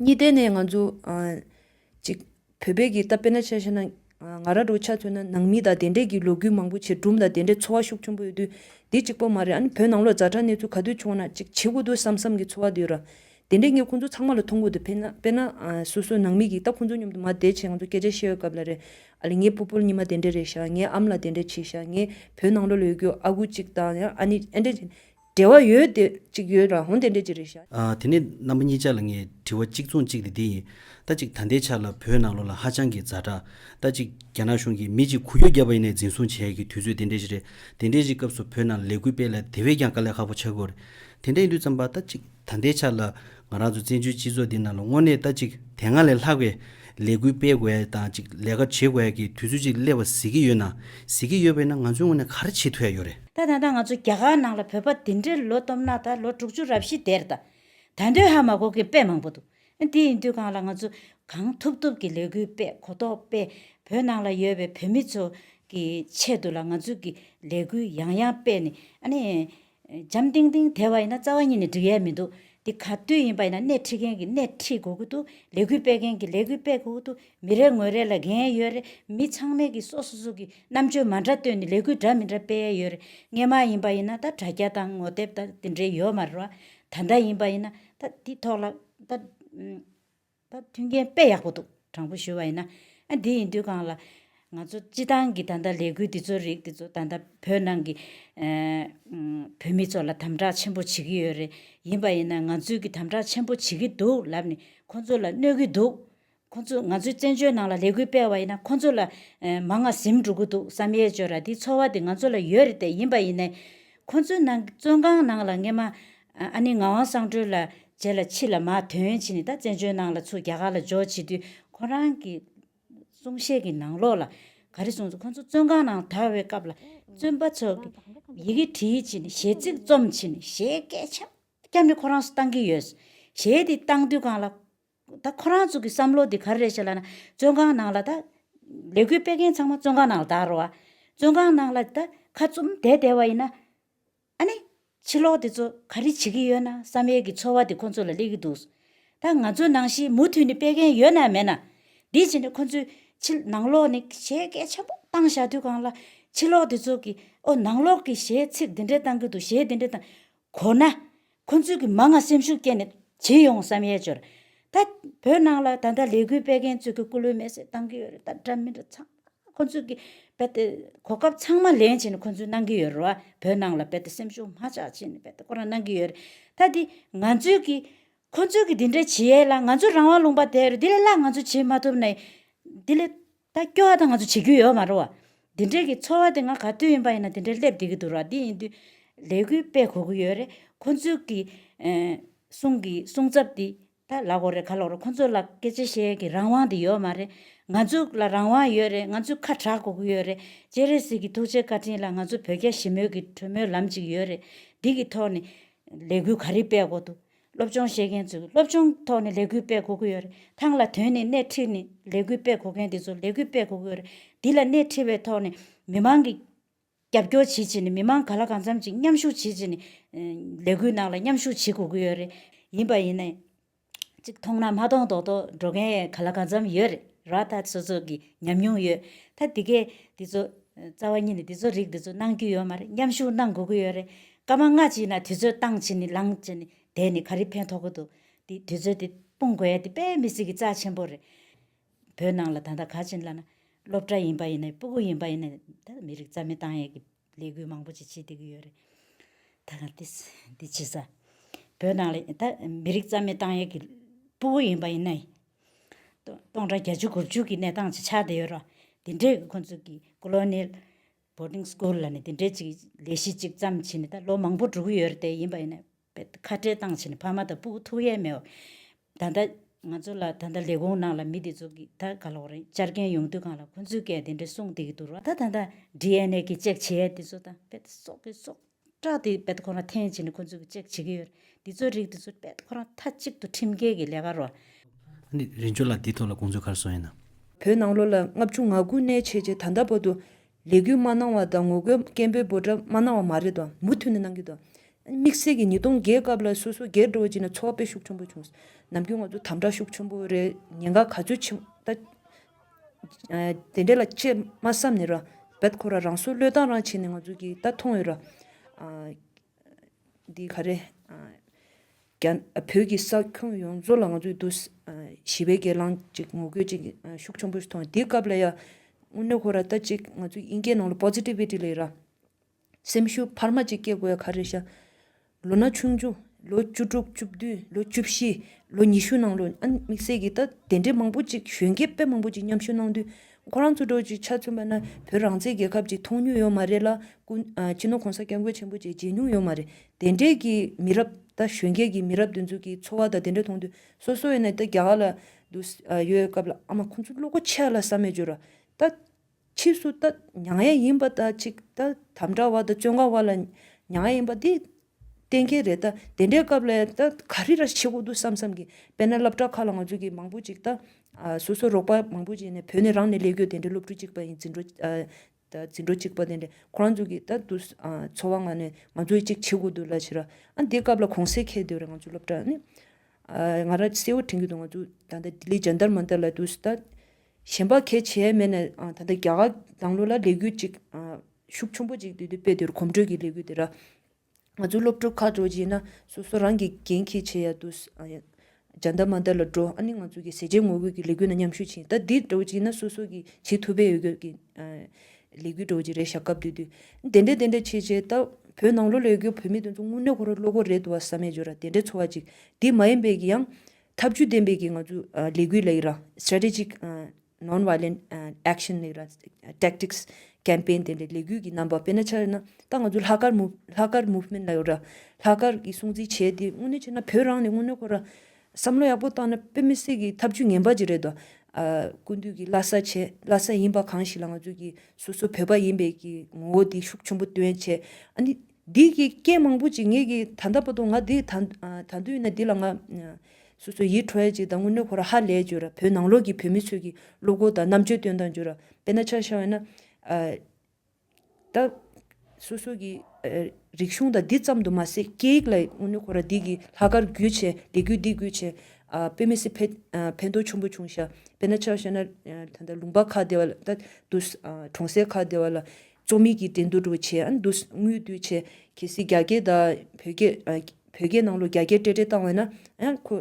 གཉིས་ལྡན་ནས་ང་ཚོ་ཅིག་བོད་པའི་གིས་ད་དཔེར་ན་ཆ་ཤས་ན་ང་ར་འགྲོ་ཆ་མཚོན་ན་ནང་མི་དང་དེ་འདྲས་ཀྱི་ལོ་རྒྱུས་མང་པོ་བྱེད་གྲུམ་དང་དེ་འདྲས་འཚོ་བ་ཤུགས་ཆུང་པོ་ཡོད་དུས་དེ་གཅིག་པོ་མ་རེད་ཨ་ནི་བོད་ནང་ལོ་ཛྭ་དྲག་གནས་ཚུལ་ག་དུས་བྱུང་བ་ན་ཅིག་བྱེད་དགོས་འདུག་བསམ་བསམ་གི་འཚོ་བ་དུས་ར་དེ་འདྲས་ངས་ཁོང་ཚོ་ཚང་མ་ལ་མཐོང་གོ་འདུག་དཔེར་ན་དཔེར་ན་སོ་སོའི་ནང་མི་གིས་ད་ཁོང་ཚོ་མཉམ་དུ་མ་བསྡད་ཆེད་ང་ཚོ་སྐད་ཆ་བཤད་ཡོད་སྐབས་ལ་རེ་ཨ་ལས་ངའི་བུ་སྤོལ་ཉི་མ་དེ་འདྲས་རེད་ཤག་ངའི་ཨམ་ལ་དེ་འདྲས་བྱས་ཤག་ངའི་བོད་ནང་ལོ་ལོས་རྒྱུ་ཨ་ཁུ་གཅིག་དང་ཨ་ནི་ཨེ་འདྲས་བྱས་འབྲེལ་བ་ཡོད་དེ་གཅིག་ཡོད་རང་དེ་འདྲས་ཀྱི་རེད་ཤག། དེ་ནས་རྣམ་པ་གཉིས་
ཅག་ལ་ངས་དྲི་བ་གཅིག་མཚུངས་གཅིག་དེ་འདི་ཡིན། ད་གཅིག་ད་ལྟའི་ཆར་ལ་བོད་ནང་ལོགས་ལ་ཧ་ཅང་གི་རྫ་དྲག། ད་གཅིག་རྒྱ་ནག་གཞུང་གིས་མི་གཅིག་གུ་ཡོད་བརྒྱ་པ་ཡིན་ནས་འཛིན་བཟུང་བྱས་ཀྱི་དུས་ཚོད་དེ་འདྲས་ཞིག་རེད། དེ་འདྲས་ཀྱི་སྐབས་སུ་བོད་ནང་ལས་འགུལ་སྤེལ་ལ་དེ་བས་ཀྱང་དཀའ་ལས་ཁག་པོ་ཆགས་དགོས་རེད། དེ་འདྲས་ཡིན་དུས་བརྩམས་པ་ད་གཅིག་ད་ལྟའི་ཆར་ལ་ང་རང་ཚོ་བཙན་བྱོལ་སྤྱི་ཚོགས་འདི་ནང་ལ་དངོས་གནས་ལྟ་ཅིག་དེ་སྔ་ལས་ལྷག་པའི་ལས་འགུལ་སྤེལ་དགོས་ཡ་དང་ཅིག་ལས་ཀ་བྱེད་དགོས་ཡ་གི་དུས་ཚོད་ཅིག་སླེབས་པ་གཟིགས་ཀྱི་ཡོད་ན་གཟིགས་ཀྱི་ཡོད་པས་ན་ང་ཚོའི་དངོས་ནས་ག་རེ་བྱེད་ཐུབ་ཡ་ཡོད་རེད། ད་ད་ལྟ་ང་ཚོ་རྒྱ་གར་
ནང་ལ་བོད་པ་འདི་འདྲའི་ལོ་སྟོབས་ནག་དང་ལོ་དྲུག་ཅུ་རབ་བཞི་དེར་ད་ད་འདོད་ཧ་མ་གོ་གི་དཔེ་མང་པོ་འདུག་དེ་ཡིན་དུས་གང་ལ་ང་ཚོ་གང་ཐུབ་ཐུབ་ཀྱི་ལས་འགུལ་སྤེལ་གོ་ཐོག་སྤེལ་བོད་ནང་ལ་ཡོད་པའི་བོད་མི་ཚོ་གི་ཆེད་དུ་ལ་ང་ཚོ་གི་ལས་འགུལ་ཡང་ཡང་སྤེལ་ནས་ཨ་ནི་འཇམ་ཏིང་ཏིང་དེ་བ་ཡིན་ན་རྩ་བ་ཉིད་ནས་འགྲིག་ཡས་མི་འདུག་དེ་ག་དུས་ཡིན་པ་ཡིན་ན་སྣེ་ཁྲིད་མཁན་གྱིས་སྣེ་ཁྲིད་དགོས་ཀྱི་འདུག་ལས་འགུལ་སྤེལ་མཁན་གྱིས་ལས་འགུལ་སྤེལ་དགོས་ཀྱི་འདུག་མི་རེ་ངོས་རེ་ལ་འགན་ཡོད་རེད་མི་ཚང་མས་ཀྱིས་སོ་སོ་སོ་གྱིས་རྣམ་དཔྱོད་མ་འདྲ་བཏོན་ནས་ལས་འགུལ་འདྲ་མི་འདྲ་སྤེལ་ཡས་ཡོད་རེད་རྔན་མ་ཡིན་པ་ཡིན་ན་ད་དྲ་རྒྱ་དང་ངོ་དེབ་དང་དེ་འདྲའི་ཡོད་མ་རེད་བ། ད་ལྟ་ཡིན་པ་ཡིན་ན་ད་དེ་ཐོག་ལ་ད། ད་ཐུགས་འགན་དཔེ་ཡག་པོ་འདུག་དྲང་པོ་ཞུ་བ་ཡིན་ན། དེ་ཡིན་དུས་གང་ལ། ང་ཚོ་སྤྱི་བཏང་གི་ད་ལྟ་ལས་འགུལ་འདི་ཚོ་རིགས་འདི་ཚོ་ད་ལྟ་བོད་ནང་གི། བོད་མི་ཚོ་ལ་དམ་དྲག་ཆེན་པོ་བྱེད་ཀྱི་ཡོད་རེད། ཡིན་པ་ཡིན་ན་ང་ཚོས་ཀྱི་དམ་དྲག་ཆེན་པོ་བྱེད་ཀྱི་འདུག་ལབ་ནས་ཁོ་ཚོ་ལ་གནོད་ཀྱི་འདུག། ཁོ་ཚོ་ང་ཚོའི་བཙན་བྱོལ་ནང་ལ་ལས་འགུལ་སྤེལ་བ་ཡིན་ན་ཁོ་ཚོ་ལ། མ་ང་གཟིམ་འགྲོ་གི་འདུག་བསམ་ཡས་ཅོ་ར་དེའི་ཚོར་བ་དེ་ང་ཚོ་ལ་ཡོད་རེད་དེ་ཡིན་པ་ཡིན་ནས། ཁོ་ཚོའི་ནང་གི་བཙོན་ཁང་ནང་ལ་ངེད་མ། ཨ་ནི་ངག་དབང་གསང་གྲོལ་ལ་རྗེ་ལ་ཕྱི་ལ་མ་དོན་ཡོན་ཕྱིན་ནས་ད་བཙན་བྱོལ་ནང་ལ་ཚུར་རྒྱ་གར་ལ་འབྱོར་བྱེད་དུས་ཁོ་རང་གི་གསུང་བཤད་ཀྱི་ནང་ལོགས་ལ་ག་རེ་གསུངས་སོང་ཁོ་ཚོ་བཙོན་ཁང་ནང་དར་བའི་སྐབས་ལ་བཙོན་པ་ཚོ་གི་ཡི་གེ་བྲིས་ཕྱིན་ནས་གཞས་ཚིག་རྩོམ་ཕྱིན་ནས་གཞས་སྐད་ཆ་སྐྱར་ནི་ཁོ་རང་ཚོ་བཏང་གི་ཡོད། གཞས་དེ་བཏང་དུས་གང་ལ་ད་ཁོ་རང་ཚོ་གི་བསམ་བློ་དེ་ག་རེ་རེད་བྱས་ལ་ན་བཙོན་ཁང་ནང་ལ་ད་ལས་འགུལ་སྤེལ་མཁན་ཚང་མ་བཙོན་ཁང་ནང་ལ་དར་བ། བཙོན་ཁང་ནང་ལ་ད་ཁ་བཙུམ་བསྡད་བསྡད་བ་ཡིན་ན། ཨ་ནེ། ཕྱི་ལོག་དེ་ཚོ་ག་རེ་བྱེད་ཀྱི་ཡོད་ན་བསམ་ཡས་ཀྱི་འཚོ་བ་དེ་ཁོ་ཚོ་ལ་སླེབས་ཀྱི་འདུག་ད་ང་ཚོ་ནང་བཞིན་མུ་མཐུད་ནས་སྤེལ་མཁན་ཡོད་ན་མེད་ན། དེ་བྱས་ནས་ཁོ་ཚོའི་ཕྱི་ནང་ལོག་ནས་གཞས་སྐད་ཆེན་པོ་བཏང་བཞག་དུས་གང་ལ། ཕྱི་ལོག་དེ་ཚོ་གིས་ཨོ་ནང་ལོག་གི་གཞས་ཚིག་འདི་འདྲ་བཏང་གི་འདུག་གཞས་འདི་འདྲ་བཏང། གོ་ན། ཁོ་ཚོས་གིས་མ་ང་སེམས་ཤུགས་བསྐྱེད་ནས་བྱེད་ཡོང་བསམ་ཡས་བྱོས་ར། ད་བོད་ནང་ལ་ད་ལྟ་ལས་འགུལ་སྤེལ་མཁན་ཚོས་གི་སྐུ་ལུས་མེར་སྲེག་བཏང་གི་ཡོད་རེད་ད་འདྲ་མི་འདྲ་ཚང། ཁོ་ཚོས་ཀྱི་རྦད་དེ་གོ་སྐབས་ཚང་མ་ལེན་བྱེད་ནི་ཁོ་ཚོས་གནང་གི་ཡོད་རོ། བོད་ནང་ལ་རྦད་དེ་སེམས་ཤུགས་མ་ཆགས་བྱེད་ནི་རྦད་དེ་ཁོ་རང་གནང་གི་ཡོད་རེད། ད་དེ་ང་ཚོས་ཀྱི། ཁོ་ཚོས་ཀྱི་དེ་འདྲ་བྱེད་ཡས་ལ་ང་ཚོ་རང་དབང་ལུང་པ་དེ་རེད་དེ་ལས་སླ་ང་ཚོས་བྱེད་མ་ཐུབ་ནའི། དེ་ལས། ད་སྐྱོ་བ་དང་ང་ཚོ་བྱེད་རྒྱུ་ཡོད་མ་རོ། དེ་འདྲའི་ཀྱི་འཚོ་བ་དེ་ང་ག་དུས་ཡིན་པ་ཡིན་ན་དེ་འདྲའི་སླེབས་བསྡད་ཀྱི་འདུག་ར་དེ་ཡིན་དུས། ལས་འགུལ་སྤེལ་གོ་གི་ཡོད་རེད་ཁོ་ཚོས་ཀྱི། གསུང་གི་གསུང་ཚབ་དེ། ད་ལག་གོ་རེ་ག་ལོག་རེ་ཁོང་ཚོ་ལ་སྐད་ཆ་བཤད་ཀྱི་རང་དབང་དེ་ཡོད་མ་རེད། ང་ཚོ་ལ་རང་དབང་ཡོད་རེད་ང་ཚོས་ཁ་གྲག་གོ་གི་ཡོད་རེད་སྤྱན་རས་གཟིགས་ཀྱི་ཐུགས་རྗེ་བཀའ་དྲིན་ལ་ང་ཚོ་བོད་རྒྱ་ཞི་མོལ་གྱི་གྲོས་མོལ་ལམ་ཅིག་ཡོད་རེད་འདི་གི་ཐོག་ནས། ལས་འགུལ་ག་རེ་སྤེལ་གོ་འདུག་སློབ་སྦྱོང་བཤད་མཁན་ཚོས་སློབ་སྦྱོང་ཐོག་ནས་ལས་འགུལ་སྤེལ་གོ་གི་ཡོད་རེད་ཐང་ལ་དོན་ནས་སྣེ་ཁྲིད་ནས་ལས་འགུལ་སྤེལ་གོ་མཁན་དེ་ཚོ་ལས་འགུལ་སྤེལ་གོ་གི་ཡོད་རེད་འདི་ལ་སྣེ་ཁྲིད་པའི་ཐོག་ནས་མི་མང་གི། རྒྱབ་སྐྱོར་བྱེད་ཆེད་ནི་མི་མང་ག་ལ་གང་འཚམ་ཅིག་མཉམ་ཞུགས་བྱེད་ཆེད་ནི། ལས་འགུལ་ནང་ལ་མཉམ་ཞུགས་བྱེད་དགོས་ཀྱི་ཡོད་རེད། ཡིན་པ་ཡིན་ནའི། ཅིག་མཐོང་ན་མ་མཐོང་མདོག་མདོག་འགྲོ་མཁན་ག་ལ་གང་འཚམ་ཡོད་རེད། ར་ད་ཚོད་ཚོད་ཀྱི་ཉམས་མྱོང་ཡོད། ད་དེ་གས་འདི་ཚོ། རྩ་བ་ཉིད་ནས་འདི་ཚོ་རིགས་འདི་ཚོ་གནང་རྒྱུ་ཡོད་མ་རེད་མཉམ་ཞུགས་གནང་དགོས་ཀྱི་ཡོད་རེད། སྐར་མ་ལྔ་ཅིག་ན་དུས་ཚོད་བཏང་བྱས་ནི་ལངས་བྱས་ནི་བསྡད་ནི་ག་རེ་ཕན་ཐོགས་ཀྱི་འདུག་དེ་དུས་ཚོད་དེ་སྤུངས་དགོས་ཡ་དེ་དཔེ་མི་སྲིད་ཀྱི་རྩ་ཆེན་པོ་རེད། བོད་ནང་ལ་ད་ལྟ་ག་ཅིན་ལ་ན་སློབ་གྲྭ་ཡིན་པ་ཡིན་ན་སྤུ་གུ་ཡིན་པ་ཡིན་ན་ད་མི་རིགས་རྩ་མེད་བཏང་ཡས་ཀྱི་ལས་འགུལ་མང་པོ་ཅིག་བྱེད་སྡོད་ཀྱི་ཡོད་རེད། ད་དེ་འདི་བྱེད་ས། བོད་ནང་ལ་ད་མི་རིགས་རྩ་མེད་བཏང་ཡས་ཀྱི་སྤུ་གུ་ཡིན་པ་ཡིན་ན། སྟོང་དང་བརྒྱད་ཅུ་དགུ་བཅུ་གྱི་གནས་སྟངས་ཅིག་ཆགས་བསྡད་ཡོད་ར། དེ་འདྲས་ཀྱི་ཁོ་ཚོ་གྱི Colonial Boarding School ལ་ནས་དེ་འདྲས་ཅིག་ལས་གཞི་ཅིག་བརྩམས་བྱས་ནས་ད་ལོ་མང་པོ་འགྲོ་གི་ཡོད་རེད་དེ་ཡིན་པ་ཡིན་ན། ཁ་བྲལ་བཏང་ཕྱིན་ཕ་མ་དང་སྤུ་གུ་ཐུགས་ཡས་མས་བ། ད་ལྟ། ང་ཚོ་ལ་ད་ལྟ་ལས་གོང་ནང་ལ་མི་དེ་ཚོ་གི་ད་ག་ལོག་རེད་བཅར་མཁན་ཡོང་དུས་གང་ལ་ཁོ་ཚོའི་སྐད་དེ་འདྲ་གསུངས་བསྡད་ཀྱི་འདུག་ར་ད་ད་ད DNA གི་ཅེག་བྱེད་ཡས་དེ་ཚོ་དང་བེད་སོག་གི་སོག་ཀྲག་དེ་བེད་ཁོ་རང་འཐེན་བྱིན་ནས་ཁོ་ཚོ་གི་ཅེག་བྱེད་ཀྱི་ཡོད་རེད་དེ་ཚོ་རིགས་དེ་ཚོ་བེད་ཁོ་རང་མཐའ་གཅིག་ཏུ་ཁྲིམས་འགལ་གི་ལས་ཀ་རོ། ཨ་ནི་རིན་
ཆོ་ལགས་དེའི་ཐོག་ལ་དགོངས་ཚུལ་གར་སོང་ཡིན་ནམ། བོད་ནང་ལོ་ལ་ལྔ་
བཅུ་ང་དགུ་གནས་བྱས་རྗེས་ད་ལྟ་བར་དུ། ལས་འགུལ་མ་གནང་བ་དང་ངོ་རྒོལ་སྐད་འབོད་འབོད་སྒྲ་མ་གནང་བ་མ་རེད་དོ། མུ་མཐུད་ནས་གནང་གི་འདུག། དམིགས་བསལ་གྱི་ཉིས་སྟོང་བརྒྱད་སྐབས་ལ་སོ་སོ་སྒེར་འགྲོ་བ་བྱས་ནས་ཚོགས་སྤེལ་ཤུགས་ཆེན་པོ་བྱུང། ནམ་རྒྱུན་ང་ཚོ་དམ་དྲག་ཤུགས་ཆེན་པོ་རེད་ཉེན་ཁ་ག་ཚོད་ཆེ་མོ་ད། དེ་འདྲ་ལ་ཆེས་མ་བསམ་ནས་རབད་ཁོ་རང་སོ་བློས་བཏང་རང་བྱས་ནས་ང་ཚོ་གིས་ད་མཐོང་ཡོད་ར། འདི་ག་རེད། བོད་ཀྱི་ས་ཁྱོན་ཡོངས་རྫོགས་ལ་ང་ཚོས་དུ་ཞི་བའི་སྒེར་ལངས་ཀྱི་ངོ་རྒོལ་ཅིག་ཤུགས་ཆུང་པོས་མཐོང། དེའི་སྐབས་ལ་ཡང་དངོས་གནས་ཁོ་ར་ལྟ་ཅིག་ང་ཚོའི་དབྱིན་སྐད་ནང་ལ Positivity ལས་ར། སེམས་ཤུགས་འཕར་མ་ཅིག་སྐྱེ་དགོས་ཡ་ག་རེད་ཤག། ལོ་ན་ཆུང་ཆུང་ལོ་བཅུ་དྲུག་བཅུ་བདུན་ལོ་བཅུ་བཞི་ལོ་ཉི་ཤུ་ནང་ལོ་ཨ་དམིགས་བསལ་གྱིས་ད་དེ་འདྲའི་མང་པོ་ཅིག་གཞོན་སྐྱེས་དཔེ་མང་པོ་ཅིག་མཉམ་ཞུགས་གནང་དུས་ཁོ་རང་ཚོ་སྒྲོལ་གྱི་ཆ་མཚོན་པ་ན་བོད་རང་བཙན་རྒྱལ་ཁབ་ཅིག་མཐོང་མྱོང་ཡོད་མ་རེད་ལ། སྤྱི་ནོར་གོང་ས་སྐྱབས་མགོན་ཆེན་པོ་བཅས་མཇལ་མྱོང་ཡོད་མ་རེད། དེ་འབྲེལ་གྱི་མི་རབས་ད་གཞོན་སྐད་ཀྱི་མི་རབས་འདི་ཚོ་གི་འཚོ་བ་ད་དེ་འདྲ་མཐོང་དུས་སོ་སོ་ཡིན་ན་ད་རྒྱ་གར་ལ་འདུག་ཡོད་སྐབས་ལ་ཨ་མ་ཁོང་ཚོ་བློ་སྒོ་ཕྱེ་ལ་བསམ་མེད་བརྗོད་རོགས། ད་ཕྱིས་སུ་ད་མྱ་ངན་ཡིན་པ་ད་ཅིག་ད་དམ་དྲག་བ་ད་བཙོན་ཁང་བ་ལ་མྱ་ངན་ཡིན་པ་འདི། གཏན་འཁེལ་རེད་ད། དེ་འདྲའི་སྐབས་ལ་ད་ག་རེ་ར་བྱེད་དགོས་འདུག་བསམ་བསམ་གི། དཔེར་ན་སློབ་གྲྭ་ཁག་ལ་ང་ཚོ་གི་མང་པོ་ཅིག་ད། སོ་སོ་རོགས་པ་མང་པོ་ཅིག་ནས་བོད་ནས་རང་ནས་ལས་གོས་དེ་འདྲའི་སློབ་ཕྲུག་ཅིག་པ་ཡིན་འཛིན་གྲོགས་ཅིག་པ་དེ་འདྲས་ཁོ་རང་ཚོ་གི་ད་དུ་འཚོ་བ་ང་ནས་ང་ཚོ་གི་ཅིག་བྱེད་དགོས་འདུག་ལ་བྱེད་ར། ཨ་འདི་སྐབས་ལ་གོང་གསལ་ཁེལ་བསྡད་པ་རེད་ང་ཚོ་སློབ་གྲྭ་ནི། ང་ར་གསལ་བོ་དྲན་གྱི་འདུག་ང་ཚོ་ད་ལྟ་ལྡི་ལི་ཇཱན་དར་མ་འདི་ལ་དུ་ད། གཞན་པ་གལ་ཆེ་མེད་ན་ད་ལྟ་རྒྱ་གར་དང་ལོ་ལ་ལས་འགུལ་ཅིག་ཤུགས་ཆུང་པོ་ཅིག་དུས་དུས་སྤེལ་དུས་གོམ་བགྲོད་ཀྱི་ལས་འགུལ་དེ་ར། ང་ཚོ་སློབ་ཕྲུག་ཁ་དྲོ་གྱིན་ན་སོ་སོ་རང་གི་འགན་ཁྱི་བྱེད་ཡག་དུས་སྦྱར་འདར་མ་འདར་ལ་འགྲོ་ཨ་ནི་ང་ཚོ་གི་ཟས་བཅད་ངོ་རྒོལ་གྱི་ལས་འགུལ་ན་མཉམ་ཞུགས་བྱིན་ད་འདི་དྲོ་གྱིན་ན་སོ་སོ་གི་བྱེད་ཐུབ་པའི་ཡོད་གི་གི་ལས་འགུལ་དྲོ་གྱི་རེད་ཞག་སྐབས་དུས་དུས་དེ་འདྲ་དེ་འདྲ་བྱེད་བྱེད་ད་བོད་ནང་ལོ་ལས་འགུལ་བོད་མི་དེ་ཚོ་དངོས་གནས་ཁོ་ར་བློ་ཁོ་རེད་དུ་བ་ས་མེད་འགྱོ་ར་དེ་འདྲ་འཚོ་བ་ཅིག་འདི་མ་ཡིན་པའི་གི་ཡང་ཐབས་ཇུས་འདེམས་སྤེལ་གྱི་ངང་ཚུལ་ལས་འགུལ་ལས་ར། Strategic Non-Violent Action ལས་ར། Tactics Campaign། དེ་འདྲའི་ལས་འགུལ་གྱི་རྣམ་པ་སྤེལ་ན་ཆ་ཡོད་ན། ད་ང་ཚོ་ལྷག་དཀར་མུ། ལྷག་དཀར Movement ལ་ཡོད་ར། ལྷག་དཀར་གྱི་སྲུང་བརྩི་བྱས་ཏེ་དངོས་གནས་བྱས་ན་བོད་རང་ནས་དངོས་གནས་ཁོ་ར། བསམ་བློ་ཡག་པོ་བཏང་ན་དཔེ་མི་སྲིད་ཀྱི་ཐབས་ཇུས་ངན་པ་ཅིག་རེད་དོ། ཀུན་འདུས་ཀྱི་བླ་ས་བྱས་བླ་ས་ཡིན་པ་གང་ཞིག་ལ་ང་ཚོ་ཀྱི་སོ་སོ་བོད་པ་ཡིན་པའི་ཀྱི་ངོ་བོ་དེ་ཤུགས་ཆེན་པོ་སྟོན་བྱས། ཨ་ནི། འདིས་ཀྱི་སྐད་མང་པོ་ཅིག་ངེད་ཀྱི་ད་ལྟ་པ་དུང་ང་འདི་ད་ད་འདུས་ན་འདི་ལ་ང། སོ་སོའི་ཡིད་ཁྲོ་ཡ་ཅིག་དང་ངུ་གནོད་ཁོ་ར་ཧ་ལས་བྱོས་ར་བོད་ནང་ལོགས་ཀྱི་བོད་མི་ཚོས་ཀྱི་སློབ་སྒོ་དང་རྣམ་དཔྱོད་སྟོན་དང་བྱོས་ར་དཔེ་ན་ཆ་ཤ་བས་ན། ད། སོ་སོ་ཀྱི། རིག་གཞུང་དང་འདི་ཙམ་དུ་མ་ཟད་སྐད་ཡིག་ལ་ངུ་གནོད་ཁོ་ར་འདི་ཀྱི་ལྷ་དཀར་རྒྱུད་ཆེ་ལྡེ་རྒྱུད་འདི་རྒྱུད་ཆེ། དཔེ་མི་སྲིད་ཕེ་ཕན་ཐོགས་ཆུང་པོ་བྱུང་ཤ་དཔེ་ན་ཆ་ཤ་ན། ད་ལུང་པ་ཁ་བདེ་བ་ལ་ད་དུ། གྲོང་གསེབ་ཁ་བདེ་བ་ལ། རྩོམ་ཡིག་གི་འགྲན་བསྡུར་འགྲོ་ཆེད་མདུན་ངོས་བསྡུ་ཆེད་གལ་སྲིད་རྒྱ་སྐད་དང་བོད་སྐད། བོད་སྐད་ནང་ལོ་བརྒྱ་བརྒྱད་སྤྲད་སྤྲད་བཏང་བས་ན། ཁོ་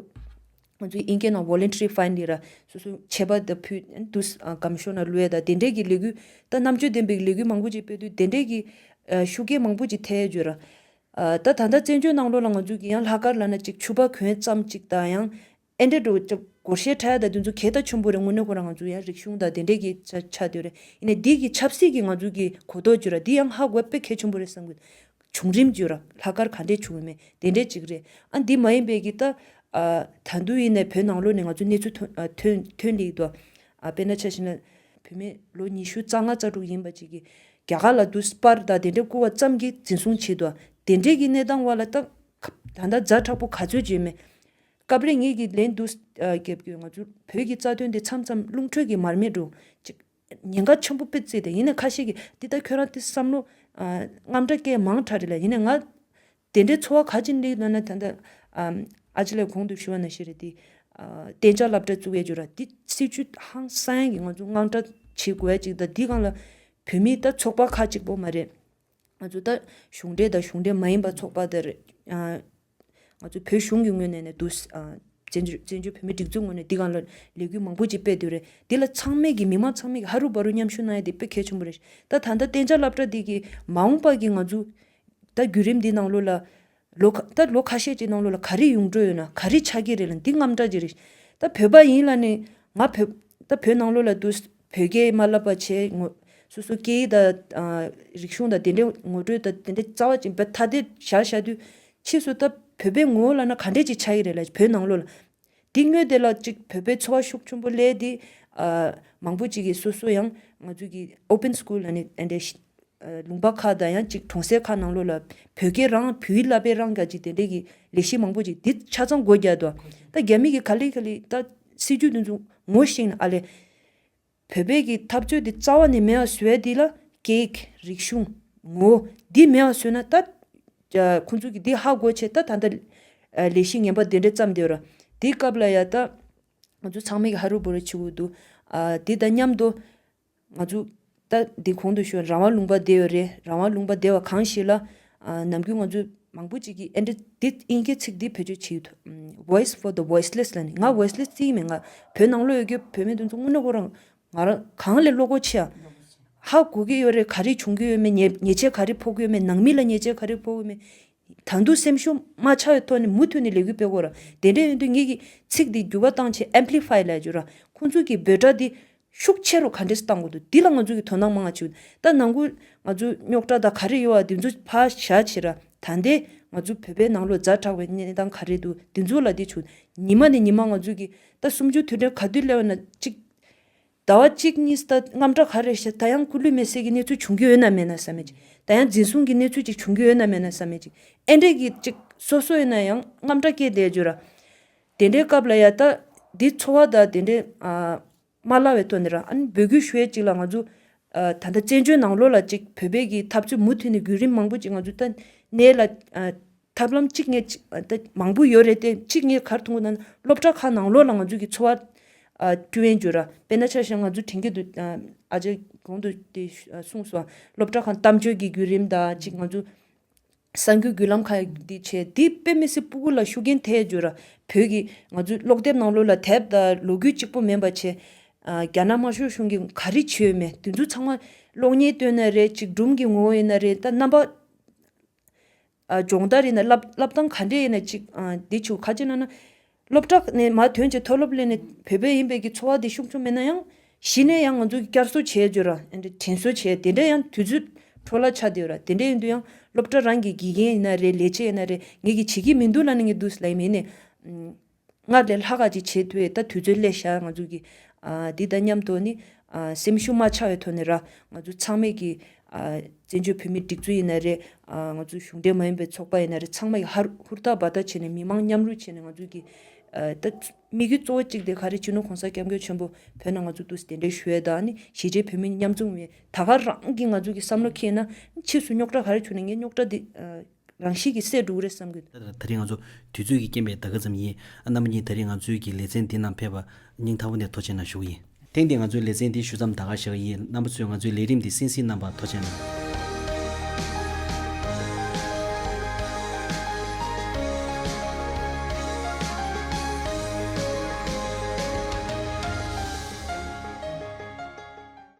ཚོས་དབྱིན་སྐད་ནང Voluntary Find ལས་ར་སོ་སོ་ཆད་པ་དེ་ཕུད་དུས་གམ་ཤོར་ན་ལོས་དང་དེ་འབྲེལ་གྱི་ལས་འགུལ་དང་རྣམ་དཔྱོད་ལྡན་པའི་ལས་འགུལ་མང་པོ་ཅིག་སྤེལ་དུས་དེ་འབྲེལ་གྱི་ཤུགས་རྐྱེན་མང་པོ་ཅིག་ཐལ་ཡོད་ར། ད་ད་ལྟ་བཙན་བྱོལ་ནང་ལོ་ལ་ང་ཚོས་ཀྱིས་ཡང་ལྷག་དཀར་ལ་ན་ཅིག་ཆུ་བ་གོན་ཙམ་ཅིག་དང་ཡང་ཨེ་འདྲ་འགྲོ། སྒོར་གཞས་ཁྲ་ཡ་དང་དུས་མཚུངས་གད་ལྟ་ཆུན་པོ་རེ་ངོ་ནུས་གོང་ར་ང་ཚོ་ཡ་རིག་གཞུང་དང་དེ་འདྲས་ཀྱི་ཆ་ཆ་དོད་རེ་ཡིན་ནའི་འདི་གི་ཆབ་སྲིད་ཀྱི་ང་ཚོ་གི་གོ་རྟོགས་བརྒྱུད་ར་འདི་ཡང་ཧ་གོ་དཔེ་གལ་ཆུན་པོ་རེ་བསམ་གི་འདུག་བྱུང་རིམ་བརྒྱུད་ར་ལྷག་དཀར་ག་འདྲས་བྱུང་ཡོད་མེད་དེ་འདྲས་ཅིག་རེད་ཨ་འདི་མ་ཡིན་པའི་གི་ད། ད་འདུག་ཡིན་ནའི་བོད་ནང་ལོ་ནས་ང་ཚོ་གནས་ཚུལ་ཐོན་ཐོན་ལེགས་འདུག་དཔེ་ན་ཆ་ཞིན་ན་བུད་མེད་ལོ་ཉི་ཤུ་རྩ་ལྔ་རྩ་དྲུག་ཡིན་པ་ཅིག་གི་རྒྱ་གར་ལ་དུ་སྤར་དང་དེ་འདྲས་བསྐུར་བ་ཙམ་གྱིས་འཛིན་བཟུང་བྱས་འདུག་དེ་འདྲས་ཀྱི་གནས་སྟངས་བར་ལ་ད་ད་ད་ད་མཛའ་དྲག་པོ་ག་ཚོད་བྱས་མེད། སྐབས་རེ་ངེད་ཀྱིས་ལན་འདུག་རྒྱབ་ཀྱི་ང་ཚོའི་བོད་ཀྱི་རྩ་དོན་དེ་མཚམས་མཚམས་རླུང་ཁྲོད་ཀྱི་མར་མེ་འགྲོ། ཉེན་ཁ་ཆེན་པོ་དཔེ་བརྩིས་ཏེ་ཡིན་ནས་ཁ་ཤས་ཀྱིས་འདི་ལྟར་ཁྱོད་རང་དེ་བསམ་བློ་རྔམ་དྲག་སྐད་མང་དྲག་རེད་ལ་ཡིན་ནས་ང། དེ་འདྲའི་འཚོ་བ་ག་ཅིག་འདི་ན་ན་ད་ད། ཨ་ཅེ་ལས་གོང་དུ་ཞུ་བ་ན་ཤེས་རེད་དེ། བསྟན་བྱ་བསླབ་གྲྭ་བཙུགས་ཡས་རྒྱུ་ར་འདི་སྲིད་བྱུས་ཧང་སངས་ཀྱི་ང་ཚོ་དངངས་སྐྲག་བྱེད་དགོས་ཡས་ཅིག་ད་འདི་གང་ལ། བོད་མིའི་ད་ཚོགས་པ་ཁ་ཅིག་པོ་མ་རེད། ང་ཚོ་ད་གཞུང་འབྲེལ་ད་གཞུང་འབྲེལ་མ་ཡིན་པ་ཚོགས་པ་ད་རེད། ང་ཚོ་བོད་གཞུང་གི་ངོས་ནས་ནས་འདུག། བཙན་བྱོལ་བོད་མིའི་སྒྲིག་འཛུགས་ངོས་ནས་འདི་གང་ལོ། ལས་འགུལ་མང་པོ་ཅིག་སྤེལ་འདོད་རེད། འདི་ལ་ཚང་མས་ཀྱི་མི་དམངས་ཚང་མས་ཀྱི་ཧ་རུ་བ་རུ་མཉམ་ཞུགས་གནང་ཡ་དེ་དཔེ་གལ་ཆེན་པོ་རེད། ད་ད་ལྟ་བསྟན་བྱ་བསླབ་གྲྭ་འདི་གི་མ་འོངས་པ་གི་ང་ཚོ། ད་བརྒྱུད་རིམ་འདི་ནང་ལོ་ལ། ལོ་ཁ་ད་ལོ་ཁ་ཤས་ཀྱི་ནང་ལོ་ལ་ག་རེ་ཡོང་འགྲོ་ཡོད་ན་ག་རེ་ཆགས་ཀྱི་རེད་ལ་འདི་རྔམ་དྲག་ཅིག་རེད། ད་བོད་པ་ཡིན་ལ་ནི། ང་བོད། ད་བོད་ནང་ལོ་ལ་འདུག། བོད་སྐད་མ་བསླབ་པ་ཆེ། སོ་སོའི་སྐད་ཡིག་དང། རིག་གཞུང་དང་དེ་འདྲའི་ངོ་སྤྲོད་དང་དེ་འདྲའི་རྩ་བ་ཅན་བོད་ཐ་དད་བཞག་བཞག་དུས། ཕྱིས་སུ་ད་བོད་པའི་ངོ་བོ་བསླབ་ན་ག་འདྲས་ཅིག་ཆགས་ཀྱི་རེད་ལ་བོད་ནང་ལོགས་ལ། འདི་སྨྱོས་དེ་ལ་ཅིག་བོད་པའི་འཚོ་བ་ཤུགས་ཆུན་པོ་ལས་དེ། མང་པོ་ཅིག་གིས་སོ་སོ་ཡང་ང་ཚོ་གི open school ལ་ནི་དེ་འདྲའི། ལུང་པ་ཁག་དང་ཡང་ཅིག་གྲོང་གསེབ་ཁག་ནང་ལོགས་ལ། བོད་སྐད་རང་བོད་ཡིག་བསླབ་པའི་རང་ག་ཅིག་དེ་འདྲས་ཀྱི་ལས་གཞི་མང་པོ་ཅིག་འདི་ཆ་ཚང་སྒོ་རྒྱག་ཏུ། ད་རྒྱ་མི་གིས་ག་ལེ་ག་ལེ་ད། སྲིད་ཇུས་འདི་ཚོ་ངོ་ཤེས་ན་ཨ་ལས། བོད་པའི་གི་འཐབ་རྩོད་འདི་རྩ་བ་ནས་མེད་བཟོས་ཡ་འདི་ལ། ཀེག། རིག་གཞུང། ངོ། འདི་མེད་བཟོས་ན་ད། ཁོང་ཚོ་གི་འདི་ཧ་གོ་ཆེད་ད་ད་ལྟ། ལས་གཞི་ངན་པ་འདི་འདྲ་བརྩམས་བསྡད་ར། དེའི་སྐབས་ལ་ཡ་ད། ང་ཚོ་ཚང་མས་ཧ་རུ་བོ་རུ་བྱེད་དགོས་འདུག། དེ་དང་མཉམ་དུ། ང་ཚོའི་ལྟ་འདི་གོང་དུ་ཤོར་རང་དབང་ལུང་པ་བདེ་བའི་རེད་རང་དབང་ལུང་པ་བདེ་བ་གང་ཞིག་ལ། ནམ་རྒྱུན་ང་ཚོའི་མང་པོ་ཅིག་གིས་ཨེ་འདྲ་འདི་དབྱིན་སྐད་ཚིག་འདི་བེད་སྤྱོད་བྱེད་ཡུལ་དུ། Voice for the Voiceless ལ་ནི་ང Voiceless ཅི་ཡིན་མེད་ང་བོད་ནང་ལོས་ཡོད་རྒྱུ་བོད་མི་དེ་ཚོ་དངོས་གནས་ཁོ་རང་ང་རང་གང་ལས་བློ་སྒོ་ཕྱེ་ཨ། ཧ་གོ་གི་ཡོད་རེད་ག་རེ་བྱུང་གི་ཡོད་མེད་ཉེས་ཆད་ག་རེ་ཕོག་གི་ཡོད་མེད་ནང་མི་ལ་ཉེས་ཆད་ག་རེ་ཕོག་གི་མེད། ད་འདུག་སེམས་ཤུགས་མ་ཆག་ཡོད་ཐོག་ནས་མུ་མཐུད་ནས་ལས་འགུལ་སྤེལ་དགོས་ར་དེ་འདྲས་ཡོད་དུས་ངེད་ཀྱིས་ཚིག་འདི་འགྱུར་བ་བཏང་ཆེད Amplify ལ་བསྒྱུར་ར་ཁོང་ཚོ་གིས་འབོད་སྒྲ་འདི་ཤུགས་ཆེ་རུ་ག་འདྲས་སུ་གཏང་དགོས་འདུག་འདི་ལ་ང་ཚོས་ཀྱི་དོ་སྣང་མང་ང་བྱེད་འོས་འདུག་ད་ནང་ཁུལ་ང་ཚོའི་རྙོག་དྲ་དང་ག་རེ་ཡོད་བ་འདི་ཚོ་ཕར་བཞག་བྱས་ར་ད་འདི་ང་ཚོའི་བོད་པའི་ནང་ལོ་ཛ་དྲག་པའི་གནས་སྟངས་ག་རེ་འདུག་འདི་ཚོ་ལ་འདི་བྱུང་ཉིན་མ་ནས་ཉིན་མ་ང་ཚོས་ཀྱི་ད་གསུམ་བཅུ་དུས་དྲན་ག་དུས་སླེབས་ན་གཅིག་ཟླ་བ་གཅིག་གཉིས་ད་རྔམ་དྲག་ག་རེ་བྱས་ད་ཡང་ཁུ་ལུས་མེ་སྲེག་གི་གནས་ཚུལ་བྱུང་གི་ཡོད་ན་མེད་ན་ས་མེད་ཅིག་ད་ཡང་འཛིན་བཟུང་གི་གནས་ཚུལ་ཅིག་བྱུང་གི་ཡོད་ན་མེད་ན་ས་མེད་ཅིག་ཨེ་འདྲས་ཀྱི་གཅིག་སོ་སོ་ཡིན་ན་ཡང་རྔམ་དྲག་སྐྱེས་བསྡད་བྱོས་ར། དེ་འདྲའི་སྐབས་ལ་ཡང་ད་འདི་འཚོ་བ་དང་དེ་འདྲའི་མ་སླ་བའི་ཐོག་ནས་རང་ཨ་ནི་འབོད་སྐུལ་ཞུ་ཡས་ཅིག་ལ་ང་ཚོ་ད་ལྟ་བཙན་བྱོལ་ནང་ལོ་ལ་ཅིག་བོད་པའི་གི་འཐབ་རྩོད་མུ་མཐུད་ནས་བརྒྱུད་རིམ་མང་པོ་ཅིག་ང་ཚོ་ད་ནས་ལ་ཐབས་ལམ་གཅིག་ངས་མང་པོ་ཡོད་རེད་དེ་གཅིག་ངས་གར་ཐུང་གི་ན་ན་སློབ་གྲྭ་ཁག་ནང་ལོ་ལ་ང་ཚོ་གི་འཚོ་བ་ཀྲུའུ་ཡན་ཇོ་ར་པེ་ན་ཆ་ཤས་ང་ཚོ་དྲན་གྱི་འདུག་ཨ་ཅག་གོང་དུ་དེ་གསུངས་སོང་སློབ་གྲྭ་ཁག་གཏམ་བརྗོད་ཀྱི་བརྒྱུད་རིམ་དང་ཅིག་ང་ཚོ། གསར་འགྱུར་བརྒྱུད་ལམ་ཁག་གིས་འདི་བྱས་འདི་དཔེ་མི་སེར་སྤུ་གུ་ལ་ཤུགས་རྐྱེན་ཐེབས་རྒྱུ་ར་བོད་ཀྱིས་ང་ཚོའི་ཀློག་དེབ་ནང་ལོ་ལ་དེབ་དང་ལོ་རྒྱུས་གཅིག་པོ་མིན་པ་བྱས། རྒྱ་ནག་དམར་ཤོག་གཞུང་གིས་ག་རེ་བྱས་ཡོད་མེད་དེ་ཚོ་ཚང་མ་གློག་བརྙན་བཏོན་ན་རེད་གཅིག་སྒྲུང་གི་ངོ་བོ་ཡིན་ན་རེད་ད་རྣམ་པ་སྦྱོང་བརྡར་ཡིན་ན་བསླབ་བསྟང་ག་འདྲས་ཡིན་ན་གཅིག་འདི་ཆུ་ཁ་ཅིག་གནང་ན། སློབ་གྲྭ་ནས་མར་ཐོན་གྱི་མཐོ་སློབ་གླེང་ནས་བོད་པའི་ཡིན་པའི་གྱི་འཚོ་བ་དེ་ཤུགས་ཆུང་མིན་ན་ཡང། གཞི་ནས་ཡང་ང་ཚོ་གྱི་བསྐྱར་གསོ་བྱས་རྗེས་ར་དྲན་གསོ་བྱས་དེ་འདྲ་ཡང་དུས་ཚོད་འཕྲོ་བརླག་ཆགས་དེ་ར་དེ་འདྲ་ཡིན་དུས་ཡང་སློབ་གྲྭ་རང་གི་དགེ་རྒན་ཡིན་ན་རེད་ལས་བྱེད་ཡིན་ན་རེད་ངེད་ཀྱི་བྱེད་ཀྱི་མི་འདུག་ལ་ནི་ངེད་དུས་ལ་ཡིན་མིན་ནི། སྔར་ལས་ལྷག་ག་ཅིག་བྱེད་ཐུབ་ཡོད་ད་དུས་ཚོད་སླད་ཤར་ང་ཚོ་གྱི། དེ་ལྟར་སྙམ་དུ་ནི། སེམས་ཤུགས་མ་ཆགས་བའི་ཐོག་ནས་ར་ང་ཚོ་ཚང་མས་ཀྱི། བཙན་བྱོལ་བོད་མིའི་སྒྲིག་འཛུགས་ཡིན་ན་རེད། ང་ཚོའི་གཞུང་འབྲེལ་མ་ཡིན་པའི་ཚོགས་པ་ཡིན་ན་རེད་ཚང་མ་ཡིས་ཧུར་ཐག་འབད་ཐག་བྱས་ནས་མི་མང་མཉམ་རུལ་བྱས་ནས་ང་ཚོས་ཀྱི། ད་དམིགས་ཡུལ་གཙོ་བོ་གཅིག་དེ་ག་རེད་སྤྱི་ནོར་གོང་ས་སྐྱབས་མགོན་ཆེན་པོ་བོད་ནང་ང་ཚོ་ཏུ་གདན་འདྲེན་ཞུ་ཡས་དང་ནི་གཞིས་བྱེས་བོད་མི་མཉམ་འཛོམས་ཡས་ད་ག་རང་གིས་ང་ཚོ་གི་བསམ་བློ་ཁེངས་ན། ཕྱིས་སུ་རྙོག་དྲ་ག་རེ་བྱུང་ན་ངས་རྙོག་དྲ་དེ། རང་ཤི་གི་སྲས་འབྲུག་རེད་བསམ་གི། ད་རེས་ང་ཚོ་
དུས་ཚོད་ཀྱི་རྐྱེན་པས་ད་ག་ཙམ་ཡིན། ཨ་ནམ་གཉིས་ད་རེས་ང་ཚོའི་གི་ལེ་ཚན་འདི་ནང་ཕེབས། སྙིང་ཐག་པ་ནས་ཐོ་ཆེན་ན་བཞུགས་ཡིན། ཐེངས་འདིའི་ང་ཚོའི་ལེ་ཚན་འདི་ཞུ་མཚམས་ད་ག་བཞག་ཡིན་རྣམ་པ་ཚོས་ང་ཚོའི་ལས་རིམ་འདི་སིང་སིང་རྣམ་པ་ཐོ་ཆེན་ན།